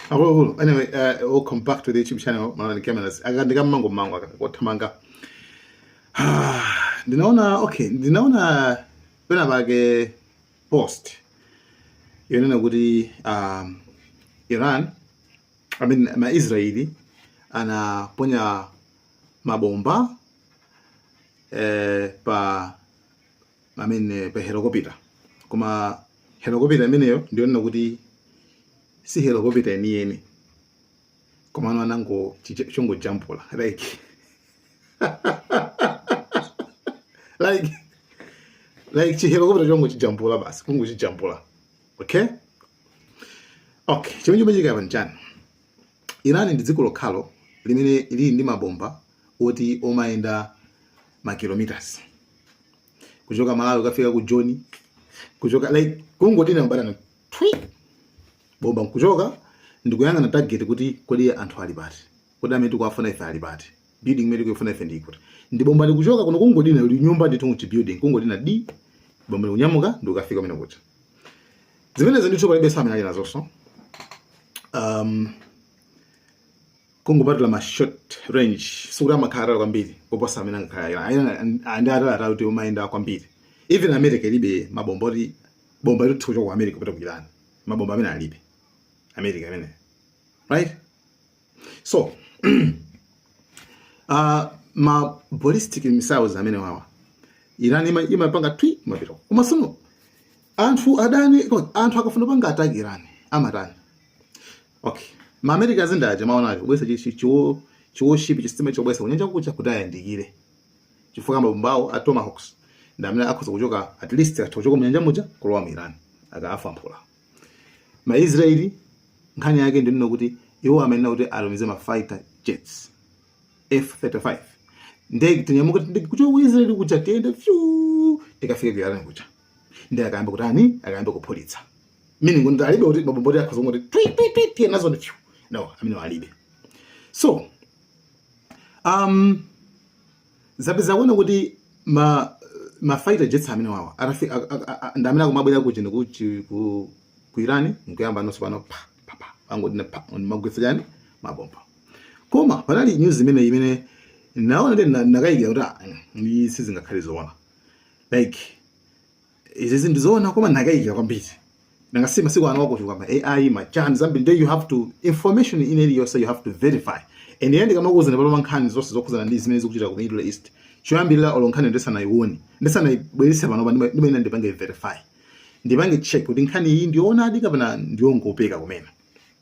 akuluakulu anyway uh, welcome back to the youtube channel malani cameras akandika mmango mmango kothamanga Ah, ndinaona okay ndinaona pena pake post yonena kuti um, iran I mean, maisraeli anaponya mabomba eh, pa I mean eh, pa helicopter koma helicopter imeneyo ndiyonena kuti si helicopter yeniyeni koma ano anango chicha- chongojambula like like like chihelicopter chongochijambula basi kungochijambula okay okay chimene chikuchitika apa nchani irani ndi dziko lokhalo limene lili ndi mabomba oti amayenda ma kilometers kuchoka malawi kafika ku joni kuchoka like kungodina batani twi bomba nkuchoka ndikuyang'ana target kuti kodi anthu ali pati kodi amene tikuwafuna ife ali pati building imene tikuifuna ife ili kuti ndi bomba likuchoka kuno kungodina li nyumba ndithu muchi building kungodina di bomba likunyamuka ndikukafika kumene kuja zimenezi ndithu palibenso amene ali nazonso um, kungopatula ma short range sikuti amakhala atali kwambiri kuposa amene angakhala Iran ayi ndi atali atali kuti amayenda kwambiri even america ilibe mabomba oti bomba litha kuchoka ku america kupita ku iran mabomba amene alibe america amene right so uh, ma ballistic missiles amene wawa iran ima- imapanga twi amapita koma sono anthu adani anthu akafuna kupanga attack iran amatani Okay. Ma America zinda aje maona aje kubweretsa chi chi chiwo chiwo ship chisitima chobweretsa kunyanja kuja kuti ayandikire. Chifukwa mabomba awo a Tomahawks ndi amene akhoza kuchoka at least atha kuchoka mnyanja muja kulowa mu Iran akafa mphula. Ma Israeli nkhani yake ndi nino kuti iwo amayenera kuti atumize ma fighter jets F35 ndege zinyamuke ndege kuchoka ku Israeli kuja ziyende fyu zikafike ku Iran kuja. ndiye akayambe kutani akayambe kuphulitsa meaning kuti alibe kuti mabomba oti akhoza kuti twi twi twi twi nazo ndi no amene alibe so um zapeza kuona kuti ma ma fighter jets amene wawa atafika ndi amene akumabwera kuja ku ku Iran nkuyamba nonso pano pa pa pa angoti pa amagwetsa chani mabomba koma panali news imene imene ndinaona ndinakayikira kuti ah, mm, sizingakhale zoona like izi ndi zoona koma ndakayikira kwambiri nanga si masiku ano wakuti kwayamba ai machani zambiri nde you have to information ina iliyonse you have to verify and ine ndikamakuuzani pano mankhani zonse zokhuzana ndi zimene zikuchitika ku middle east choyambirira olo nkhani ndisanayione ndisanayibwerese panopa ndima- ndimayenera ndipange verify ndipange check kuti nkhani iyi ndioonadi kapena ndiyongopeka kumene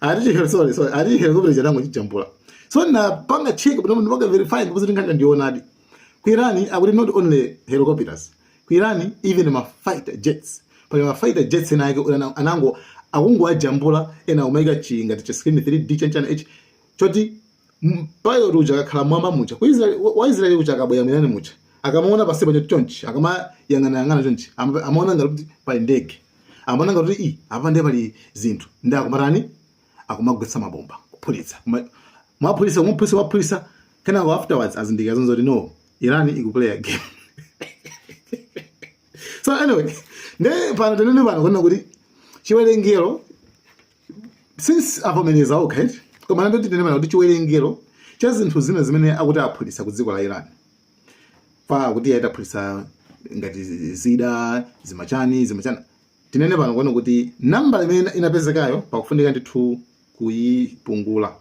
Ati chi- sorry sorry ati chi helicopter chija anangochijambula. So napanga check kuti munthu panga verify ndipo zili nkhani ndioonadi. Ku Iran akuti not only helicopters. Ku Iran even ma fighter jets. Pali ma fighter jets enaake una- anango akungowajambula ena akumaika chi ngati cha screen 3D chanichani ichi choti M- pilot uja akakhala mwamba muja ku Israel- wa- wa israeli uja akabwera mu Iran muja akamaona pansipo chonchi akamayang'anayang'ana chonchi ama- amaona ngati kuti pali ndege amaona ngati kuti i apa ndiye pali zinthu nde akumatani akumagwetsa mabomba kuphulitsa Kuma- mwaphulitsa mwaphulitsa mwaphulitsa kenako afterwards azindikira zoti no iran ikuplaya game so anyway nde pano tinene pano kunena kuti chiwerengero since avomereza okha eti koma nde tinene pano kuti chiwerengero cha zinthu zina zimene akuti aphulitsa ku dziko la iran pakuti ayi taphulitsa ngati zida zimachani zimachani tinene pano kunena kuti nambala imene ina- inapezekayo pakufunika ndithu kuyipungula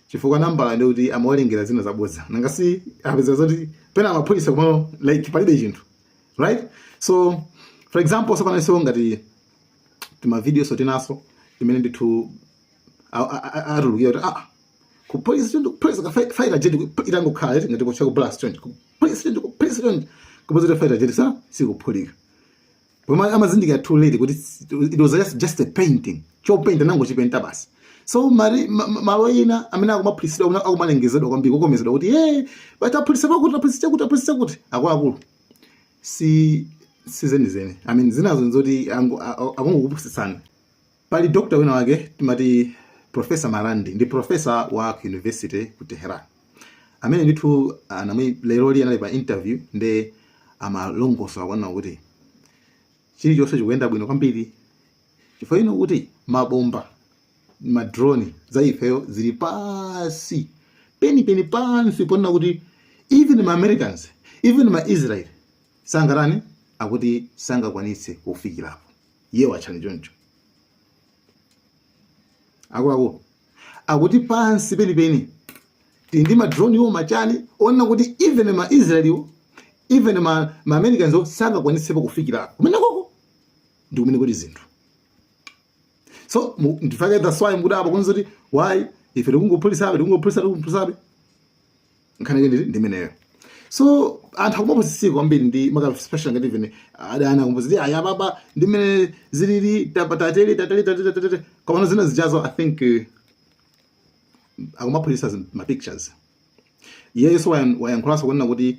chifukwa nambala ndi kuti amawerengera zina zabodza nanga si apeza zoti pena amaphulitsa kumalo like palibe chinthu right so for example so panonso ngati timavidiyoso tinaso timene ndithu atulukira kuti aa kuphulitsa choncho kuphulitsa ka fighter jet itangokhala eti ngati kucha ku blast choncho kuphulitsa choncho kuphulitsa choncho kupeza kuti fighter jet sa- sikuphulika koma amazindikira too late kuti it was just, just a painting chopenta anangochipenta basi so mari- ma- ma- malo ina amene akumaphulitsidwa amene akumalengezedwa kwambiri kukomezedwa kuti ye bati aphulitsa pakuti aphulitsa chakuti aphulitsa chakuti akuluakulu si si zenizeni i mean zinazo nzoti angu- a- a- akungokupusitsani pali dokta wina wake timati profesa marandi ndi profesa wa ku university ku teheran amene ndithu anamwi leroli anali pa interview nde amalongosola kunena kuti chilichonse chikuyenda bwino kwambiri chifukwa ino kuti mabomba madrone za ifeyo zili pansi penipeni pansi ponena kuti even ma americans even ma israel sangatani akuti sangakwanitse kufikirapo iye wachani choncho akuluakulu akuti pansi penipeni tili ndi madrone iwo machani onena kuti even ma israel iwo even ma, ma americans iwo sangakwanitsepo kufikirako kumenekoko ndi kumene kuli zinthu so ndifake that's why mukudabwa kunzi kuti why ife tikungophulitsabe tikungophulitsa tikungophulitsabe nkhani yake ndi imeneyo so anthu akumapusitsika kwambiri ndi makaspecially ngati vene adana kumbuzi aya baba ndi mmene zilili tatateli tateli tateli tateli koma zina zijazo i think uh, akumaphulitsa ma pictures yesu wayankhulaso kunena kuti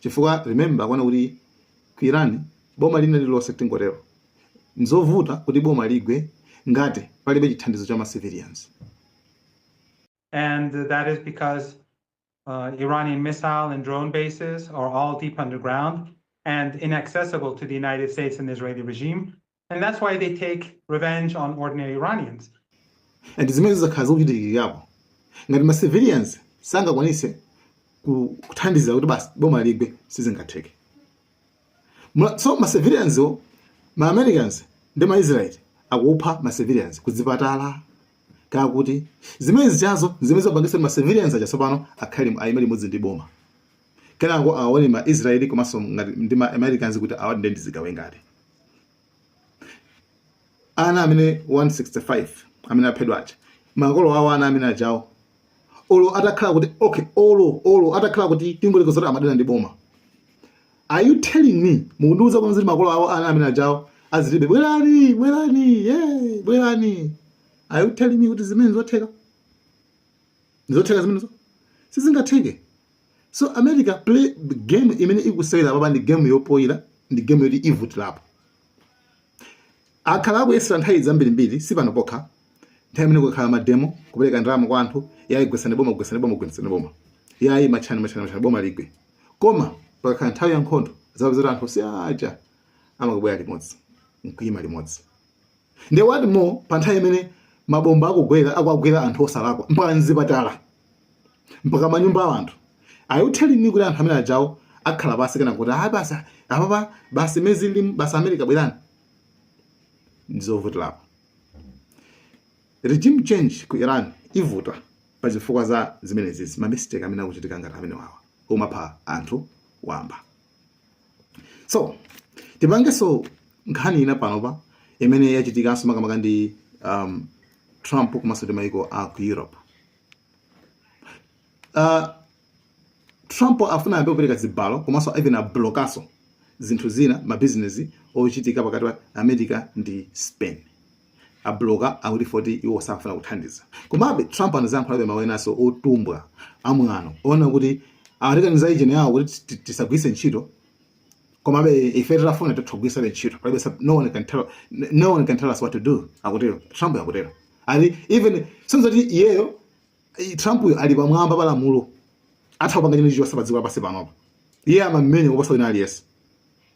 chifukwa remember kuona kuti ku iran boma lina lililonse tingotero nzovuta kuti boma ligwe ngati palibe chithandizo cha ma civilians And that is because uh, Iranian missile and drone bases are all deep underground and inaccessible to the United States and Israeli regime. And that's why they take revenge on ordinary Iranians. and zimene zakhala zikuchitikirapo ngati ma civilians sangakwanise ku- kuthandiza kuti basi boma ligwe sizingatheke Mula- so ma civilians so ma americans ndi ma israel akupha ma civilians kuzipatala kakuti zimene zijazo zimene zapangitsa kuti ma civilians aja tsopano akhale ayime limodzi ndi boma kenako aone ma israel komanso ngati ndi ma americans kuti awa ndi ndizigawe ngati ana amene 165 amene aphedwa aja makolo awo ana amene ajawo olo atakhala kuti okay olo olo atakhala kuti tingoyerekeza kuti amadana ndi boma are you telling me mukundiuza kuti zili makolo awo ana amene ajawo azilibe bwerani bwerani yeah, bwerani are you telling me kuti zimene zotheka zotheka zimenezo sizingatheke so america game imene ikusewera papa ndi game yofoyira ndi game yoti ivutirapo akhalapo kuyesera nthawi zambirimbiri si pano pokha nthawi imene kumakhala mademo kupereka ndalama kwa anthu yayi gwesani boma gwesani boma gwesani boma yayi matchani matchani matchani boma ligwe koma pakakhala nthawi ya nkhondo zapezeka kuti anthu si aja amakabwera limodzi nkuyima limodzi nde what more pa nthawi imene mabomba akugwera akuwagwera anthu osalakwa mpaka mzipatala mpaka mmanyumba a anthu are you telling me kuti anthu amene ajawo akhala pansi kunena kuti ayi basi apapa basi mezi ndi basi america bwerani ndizovutirapo regime change ku iran ivuta pa zifukwa za zimenezizi mamistake amene akuchitika ngati amene wawa omapha anthu wamba so tipangenso nkhani ina panopa imene yachitikanso makamaka ndi um, trump komanso ndi maiko a ku europe uh, trump afuna ayambe kupereka zibalo komanso even ablokaso zinthu zina mabizinesi ochitika pakati pa america ndi spain abloka akuti poti iwo safuna kuthandiza komabe trump anazayankhula mawu enanso otumbwa amwano onena kuti atikaniza yeni yawo kuti ti- ti- tisagwiritse ntchito komabe ife titafuna titha ogwiritsabe ntchito palibe sab- no one can tell no one can tell us what to do akutero trump akutero ali even si zoti iyeyo eh, trump uyo ali pamwamba pa lamulo atha kupanga chimene chilichonse pa dziko lapansi panopa iye amamenya kuposa wina aliyense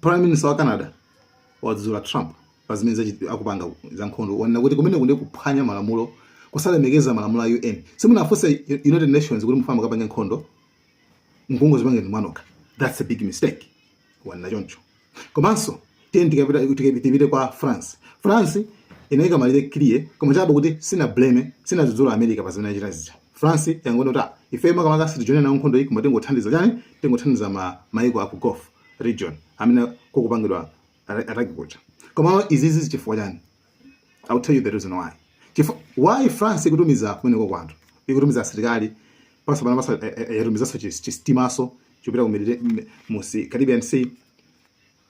prime minister wa canada wadzudzula trump pa zimene zachi- akupanga za nkhondo wanena kuti kumeneku ndi kuphwanya malamulo kusalemekeza malamulo a un simunawafunse U- united nations kuti mufuna mukapange nkhondo nkungozipangira mwanokha that's a big mistake wanena choncho komanso tiyeni tikapita tikapi- tipite kwa france france inaika malire clear koma chabe kuti sina blame sinadzudzule america pa zimene achita zija france yangonena kuti ah, ife makamaka sitijoina nawo nkhondo iyi koma tingothandiza chani tingothandiza ma, maiko aku gulf region amene kukupangidwa ata- attack kuja koma izizi chifukwa chani I'll tell you the reason why. Chifo, why France ikutumiza kumeneko kwanthu ikutumiza asilikali pa- panopa pa- yatumizanso chisitimanso chopita ku Mediterranean- mu sea- Caribbean Sea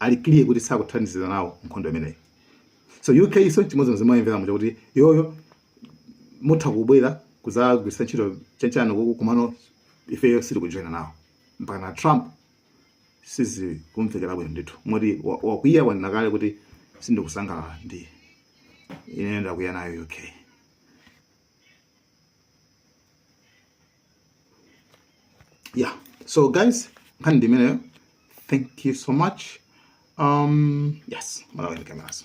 ali clear kuti sakuthandizira nawo nkhondo imeneyi so UK so chimodzimodzi mwayimvera muja kuti iyoyo mutha kubwera kuzagwiritsa ntchito chanichani kuku komano ifeyo sitikujoina nawo mpaka na Trump sizikumvekera bwino ndithu moti wa- wakwiya wanena kale kuti sindikusangalala ndi ine ndakwiya nayo UK yeah so guys nkhani ndi imeneyo thank you so much um yes malawi ndi kamenazo